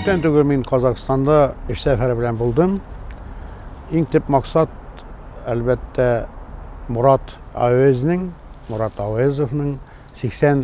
Күптән түгел мин Казахстанда эш сәфәре белән булдым. Иң төп максат, әлбәттә, Мурат Авезның, Мурат Авезовның 80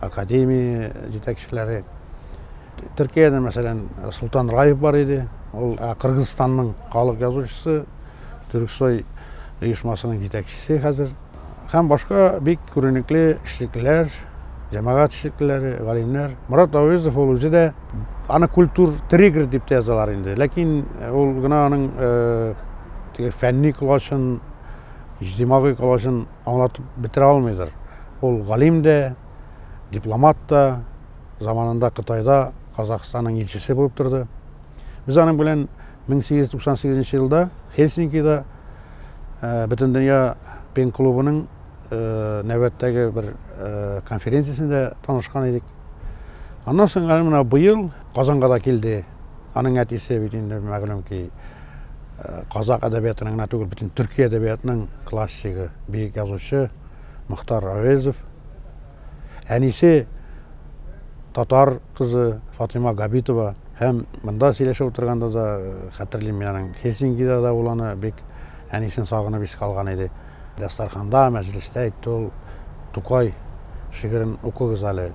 академия җитәкчеләре. Төркиядә, мәсәлән, Султан Раев бар иде. Ул Кыргызстанның халык язучысы, Төрксой оешмасының җитәкчесе хәзер. Һәм башка бик күренекле эшлеклеләр, җәмәгать эшлеклеләре, галимнәр. Мурат Авызов ул үзе дә аны культур триггер дип тә язалар инде. Ләкин ул гына аның фәнни колачын, иҗтимагый колачын Аңлатып бетерә алмыйдыр. Ул галим дә, дипломат та, заманында Кытайда Казахстанның илчесе булып торды. Без аның белән 1898 елда Хельсинкида Бөтендөнья пен клубының нәүбәттәге бер конференциясендә танышкан идек. Аннан соң әле менә быел Казанга да килде. Аның әтисе бит инде мәгълүм ки, Казакъ әдәбиятының гына түгел, бөтен төрки әдәбиятның классигы, бөек язучы Мохтар Әвезов. Әнисе татар кызы Фатыйма Габитова һәм монда сөйләшеп утырганда да э, хәтерлим мин аның Хельсинкида да буланы бик әнисен сагынып искә алган иде. Дастарханда, мәҗлестә әйтте ул, Тукай шигырен укыгыз әле.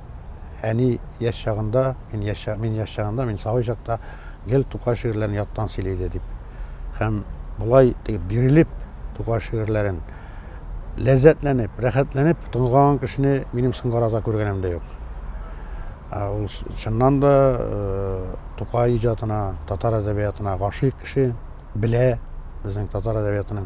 Әни яшь чагында, мин яшь, мин яшь чагында, мин сабый чакта гел Тукай шигырьләрен яттан сөйли иде, дип. Һәм болай дип бирелеп Тукай шигырьләрен ләззәтләнеп, рәхәтләнеп тыңлаган кешене минем соңгы арада күргәнем дә юк. Ул чыннан да Тукай иҗатына, татар әдәбиятына гашыйк кеше, белә безнең татар әдәбиятының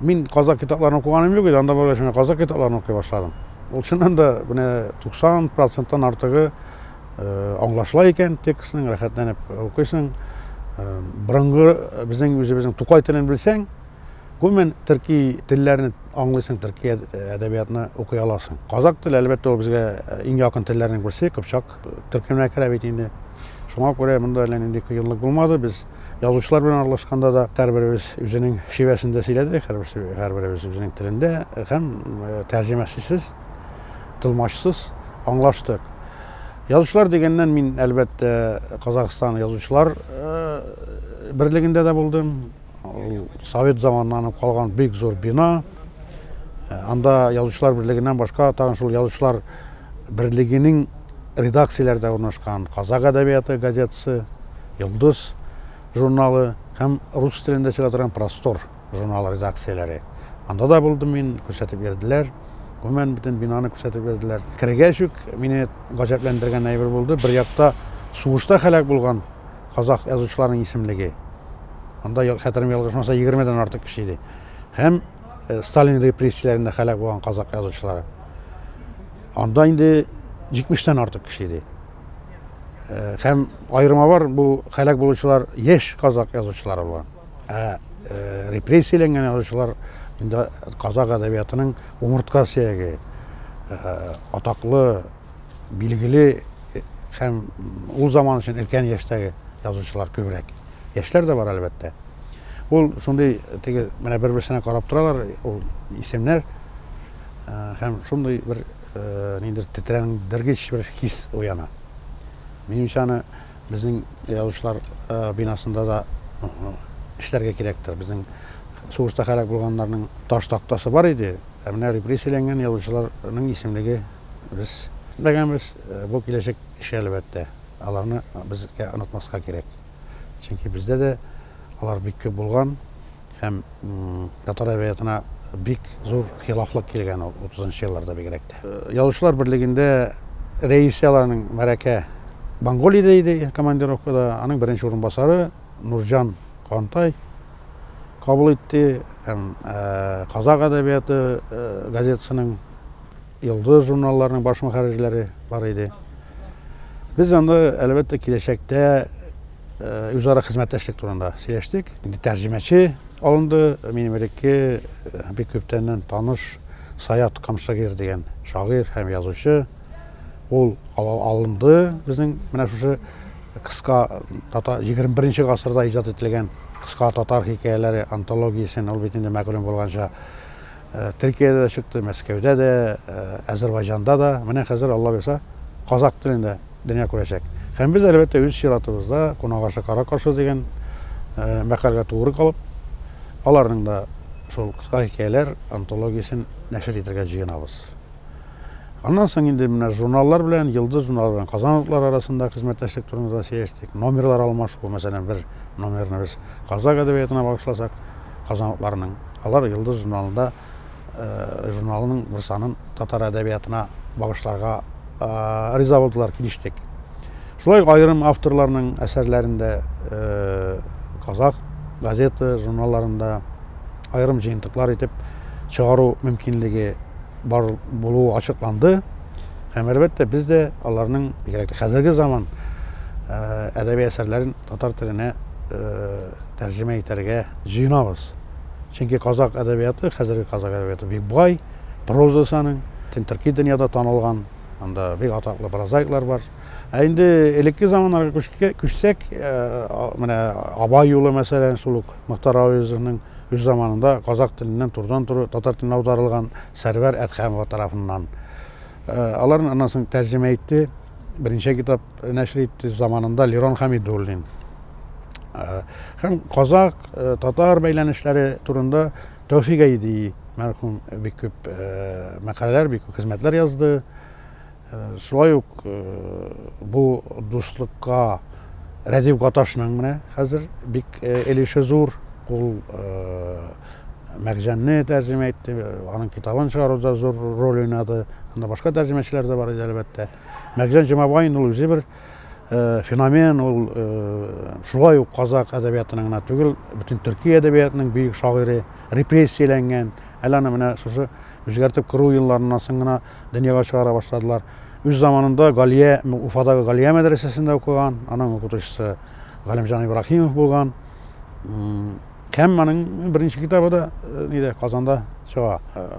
Мин казак китапларын укыганым юк иде, анда баргач менә казак китапларын укый башладым. Ул чыннан да менә 90 проценттан артыгы аңлашыла икән текстның, рәхәтләнеп укыйсың. Борынгы безнең үзебезнең Тукай телен белсәң, гомумән төрки телләрне аңлыйсың, төрки әдәбиятны укый аласың. Казак теле, әлбәттә, ул безгә иң якын телләрнең берсе, кыпчак төркеменә керә бит инде. Шуңа күрә монда әллә нинди кыенлык булмады. Без Язучылар белән аралашканда да һәрберебез үзенең шивәсендә сөйләдек, һәрберебез үзенең телендә һәм тәрҗемәчесез, тылмачсыз аңлаштык. Язучылар дигәннән мин, әлбәттә, Казахстан язучылар берлегендә дә булдым. Совет заманнан калган бик зур бина. Анда язучылар берлегеннән башка тагын шул язучылар берлегенең редакцияләрдә урнашкан Казак әдәбияты газетасы, Йолдыз журналы һәм рус телендә чыга торган Простор журналы редакцияләре. Анда да булдым мин, күрсәтеп йөрделәр. Гомумән, бөтен бинаны күрсәтеп йөрделәр. Кергәч үк мине гаҗәпләндергән әйбер булды. Бер якта сугышта һәлак булган казах язучыларының исемлеге. Анда, хәтерем ялгышмаса, 20 дән артык кеше иде. Һәм Сталин репрессияләрендә һәлак булган казак язучылары. Анда инде 70-тән артык кеше иде. Э, һәм аерма бар, бу хәлак булучылар яшь казак язучылары булган. Ә э, репрессияләнгән язучылар инде казак әдәбиятының умыртка сөяге, э, атаклы, билгеле һәм ул заман өчен өлкән яшьтәге язучылар күбрәк. Яшьләр дә бар, әлбәттә. Ул шундый теге менә бер-берсенә карап торалар, ул исемнәр Һәм шундый бер ниндидер тетрәндергеч бер хис уяна. Минемчә аны безнең язучылар бинасында да эшләргә кирәктер. Безнең сугышта һәлак булганнарның таш тактасы бар иде, ә менә репрессияләнгән язучыларның исемлеге без белмәгәнбез. Бу киләчәк эше, әлбәттә. Аларны безгә онытмаска кирәк. Чөнки бездә дә алар бик күп булган. Һәм татар әдәбиятына бик зур хилафлык килгән ул 30-нчы елларда бигрәк тә. Язучылар берлегендә рәисе аларның Мәрәкә Монголиядә иде командировкада, аның беренче урынбасары Нурҗан Кантай кабул итте һәм Казак әдәбияты газетасының Йолдыз журналларының баш мөхәррирләре бар иде. Без анда, әлбәттә, киләчәктә үзара хезмәттәшлек турында сөйләштек. Инде тәрҗемәче алынды. Минем элекке бик күптәннән таныш Саят Камшагир дигән шагыйрь һәм язучы. Ул алынды безнең менә шушы кыска татар 21 гасырда иҗат ителгән кыска татар хикәяләре антологиясен, ул бит инде мәгълүм булганча Төркиядә дә чыкты, Мәскәүдә дә, Әзербайҗанда да. Менә хәзер, Алла боерса, казакъ телендә дөнья күрәчәк. Һәм без, әлбәттә, үз чиратыбызда Кунак ашы кара каршы дигән мәкальгә тугры калып, аларның да шул кыска хикәяләр антологиясен нәшер итәргә җыенабыз. Аннан соң инде менә журналлар белән, Йолдыз журналы белән Казан утлары арасында хезмәттәшлек турында да сөйләштек. Номерлар алмашу, мәсәлән, бер номерны без казакъ әдәбиятына багышласак, Казан утларының Алар Йолдыз журналында журналының бер санын татар әдәбиятына багышларга риза булдылар, килештек. Шулай ук аерым авторларның әсәрләрендә казак газета, журналларында аерым җыентыклар итеп чыгару мөмкинлеге бар булуы ачыкланды. Һәм әлбәттә без дә аларның бигрәк тә хәзерге заман әдәби әсәрләрен татар теленә тәрҗемә итәргә җыенабыз. Чөнки казакъ әдәбияты, хәзерге казакъ әдәбияты бик бай, прозасы аның, Тентыркий дөньяда танылган, анда бик атаклы прозаиклар бар. Ә инде элекке заманнарга күчсәк, менә Абай юлы мәсәлән, шул ук Мөхтар Авызовның үз заманында казакъ теленнән турыдан туры татар теленә аударылган Сәрвәр Әдхәмова тарафыннан. Аларны аннан соң тәрҗемә итте, берничә китап нәшер итте заманында Лерон Хәмидуллин. Һәм казакъ Татар бәйләнешләре турында Тәүфик Әйди мәрхүм бик күп мәкаләләр, бик күп хезмәтләр язды. Шулай ук бу дуслыкка Рәдиф Гаташның менә хәзер бик элеше зур. Ул Мәгҗәнне тәрҗемә итте, аның китабын чыгаруда зур роль уйнады. Анда башка тәрҗемәчеләр дә бар иде, әлбәттә. Мәгҗән Җомабаин ул үзе бер Э, феномен ул э, шулай ук казак әдәбиятының гына түгел бөтен төрки әдәбиятының бөек шагыйре репрессияләнгән әле аны менә шушы үзгәртеп керү елларыннан соң гына дөньяга чыгара башладылар үз заманында галия уфадагы галия мәдрәсәсендә укыган аның укытучысы галимҗан ибраһимов булган Һәм моның беренче китабы да нидә Казанда чыга.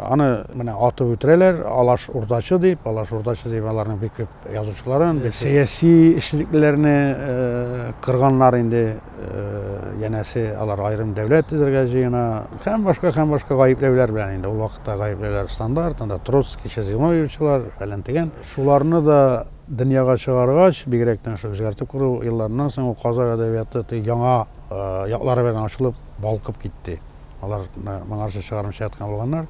Аны менә атып үтерәләр, Алаш урдачы дип, Алаш урдачы дип аларның бик күп язучыларын, бик сәяси эшлеклеләрне кырганнар инде. Янәсе алар аерым дәүләт төзергә җыена. Һәм башка һәм башка гаепләүләр белән инде ул вакытта гаепләүләр стандарт, анда Троцкий, Чезимовичлар, фәлән дигән. Шуларны да дөньяга чыгаргач, бигрәк тә шул үзгәртеп кору елларыннан соң ул казак әдәбияты яңа яклары белән ачылып, балкып китте. Алар моңарчы чыгармыйча яткан булганнар.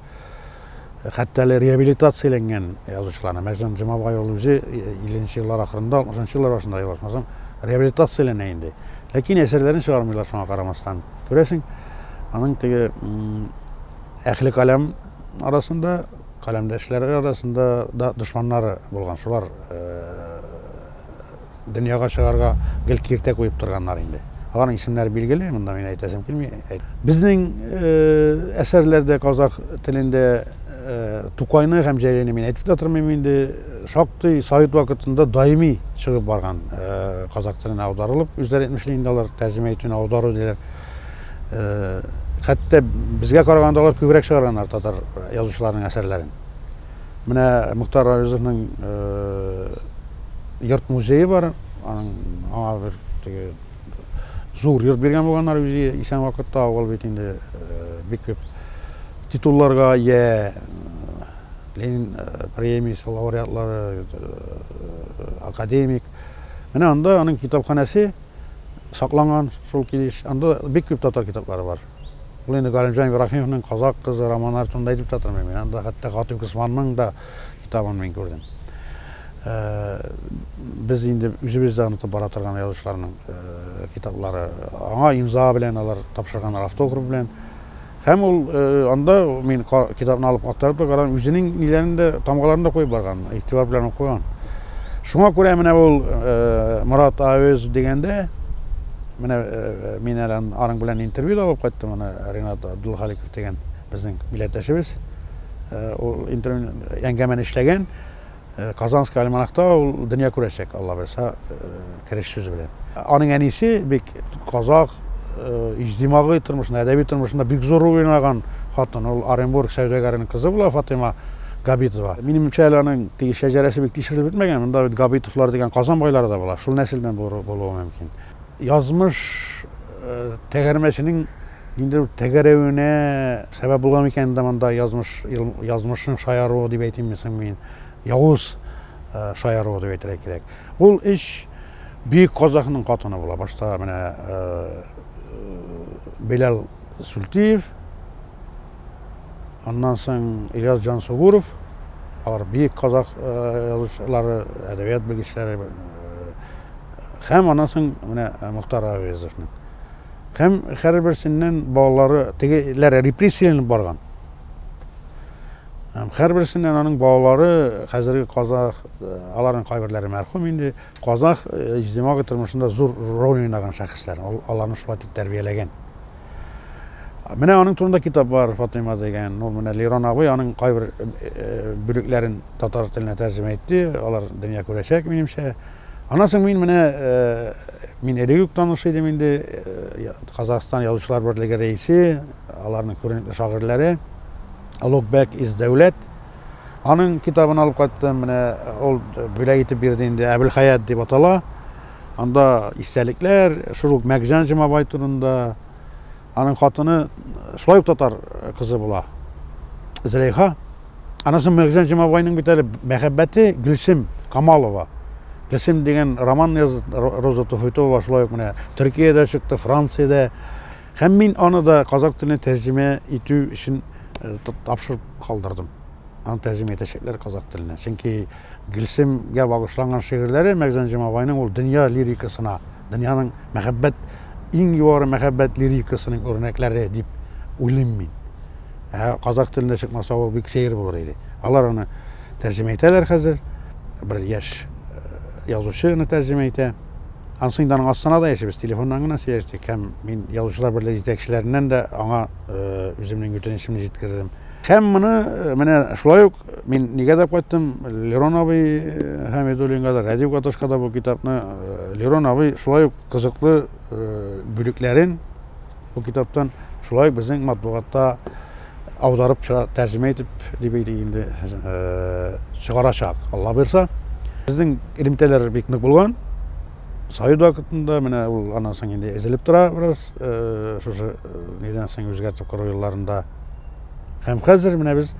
Хәтта әле реабилитацияләнгән язучыларны, мәсәлән, Җомабай ул үзе 50 еллар ахырында, 60 еллар башында язмасам, реабилитацияләнә инде. Ләкин әсәрләрен чыгармыйлар шуңа карамастан. Күрәсең, аның теге әхле каләм арасында, каләмдәшләре арасында да дошманнары булган. Шулар Дөньяга чыгарга гел киртә куеп торганнар инде. Аларның исемнәре билгеле, монда мин әйтәсем килми. Безнең э, әсәрләрдә казах телендә э, Тукайны һәм Җәйләйне мин әйтеп тә тормыйм инде. Шактый совет вакытында даими чыгып барган э, казах теленә аударылып, үзләре әйтмешли инде алар тәрҗемә итүне аудару диләр. Хәтта безгә караганда алар күбрәк чыгарганнар татар язучыларының әсәрләрен. Менә Мөхтар Аюзовның йорт музее бар. Аның аңа бер теге зур йорт биргән булганнар үзе исән вакытта. Ул бит инде бик күп титулларга ия. Ленин премиясе лауреатлары, академик. Менә анда аның китапханәсе сакланган шул килеш. Анда бик күп татар китаплары бар. Ул инде Галимҗан Ибраһимовның Казак кызы романнары турында әйтеп тә тормыйм. Мин анда хәтта Гатыйп Госманның да китабын мин күрдем. Э, без инде үзебез дә онытып бара торган язучыларның э, китаплары. Аңа имза белән алар тапшырганнар автограф белән. Һәм ул э, анда мин китапны алып актарып та карадым, үзенең ниләрен дә тамгаларын да куеп барган, игътибар белән укыган. Шуңа күрә менә ул Мурат Авез дигәндә Менә мин әле аның белән интервью да алып кайттым, аны Ренат Абдулхаликов дигән безнең милләттәшебез. Ул интервью әңгәмәне эшләгән. Казанский альманахта ул дөнья күрәчәк, Алла бирса, кереш сүзе белән. Аның әнисе бик казах, иҗтимагый тормышында, әдәби тормышында бик зур роль уйнаган хатын. Ул Оренбург сәүдәгәренең кызы була, Фатыйма Габитова. Минемчә, әле аның теге шәҗәрәсе бик тикшерелеп бетмәгән. Монда бит Габитовлар дигән Казан байлары да була. Шул нәселдән булуы мөмкин. Язмыш тәгәрмәченең ниндидер бер тәгәрәвенә сәбәп булган микән инде монда язмыш, язмышның шаяруы дип әйтимме соң мин, явыз шаяруы дип әйтергә кирәк. Ул өч бөек казахның хатыны була. Башта менә Беләл Сүлтиев, Аннан соң Ильяс Җансугуров, алар бөек казах язучылары, әдәбият белгечләре. Һәм аннан соң менә Мохтар Авезовның. Һәм һәрберсеннән балалары тегеләр репрессияләнеп барган. Һәм һәрберсеннән аның балалары хәзерге казах, аларның кайберләре мәрхүм инде, Казах иҗтимагый тормышында зур роль уйнаган шәхесләр, ул аларны шулай дип тәрбияләгән. Менә аның турында китап бар, Фатыйма дигән. Ну, менә Лирон абый аның кайбер э, э, бүлекләрен татар теленә тәрҗемә итте, алар дөнья күрәчәк, минемчә. Аннан соң мин менә э, мин элек үк таныш идем инде Казахстан язучылар берлеге рәисе, аларның күренекле шагыйрьләре Локбек из Дәүләт Аның китабын алып кайттым, менә ул бүләк итеп бирде инде, Әбелхаят дип атала. Анда истәлекләр, шул ук Мәкҗан Җомабай турында. Аның хатыны шулай ук татар кызы була. Зөләйха. Аннан соң Мәкҗан Җомабайның бит әле мәхәббәте Гөлсем Камалова. Гөлсем дигән роман язды Роза Туфайтова, шулай ук менә Төркиядә чыкты, Франциядә. Һәм мин аны да казак теленә тәрҗемә итү өчен тапшырып калдырдым. Аны тәрҗемә итәчәкләр казак теленә. Чөнки Гөлсемгә багышланган шигырьләре Мәгзән Җомабайның ул дөнья лирикасына, дөньяның мәхәббәт иң югары мәхәббәт лирикасының үрнәкләре дип уйлыйм мин. Ә казак телендә чыкмаса ул бик сәер булыр иде. Алар аны тәрҗемә итәләр хәзер. Бер яшь язучы аны тәрҗемә итә. Анысы инде аның астына да яшибез, телефоннан гына сөйләштек һәм мин язучылар берлеге җитәкчеләреннән дә аңа үземнең үтенечемне җиткердем. Һәм моны менә шулай ук мин нигә дә кайттым, Лерон абый Хәмидуллинга да, Радио Катышка да бу китапны Лерон абый шулай ук кызыклы бүлекләрен бу китаптан шулай ук безнең матбугатта аударып чыга, тәрҗемә итеп, дип әйтик инде, чыгарачак, Алла бирса. Безнең элемтәләр бик нык булган. Совет вакытында менә ул аннан соң инде эзелеп тора бераз, шушы нидән соң үзгәртеп кору елларында. Һәм хәзер менә без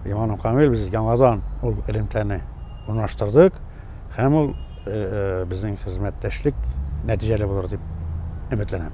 Иманым Камил без яңадан ул элемтәне урнаштырдык һәм ул безнең хезмәттәшлек нәтиҗәле булыр дип өметләнәм.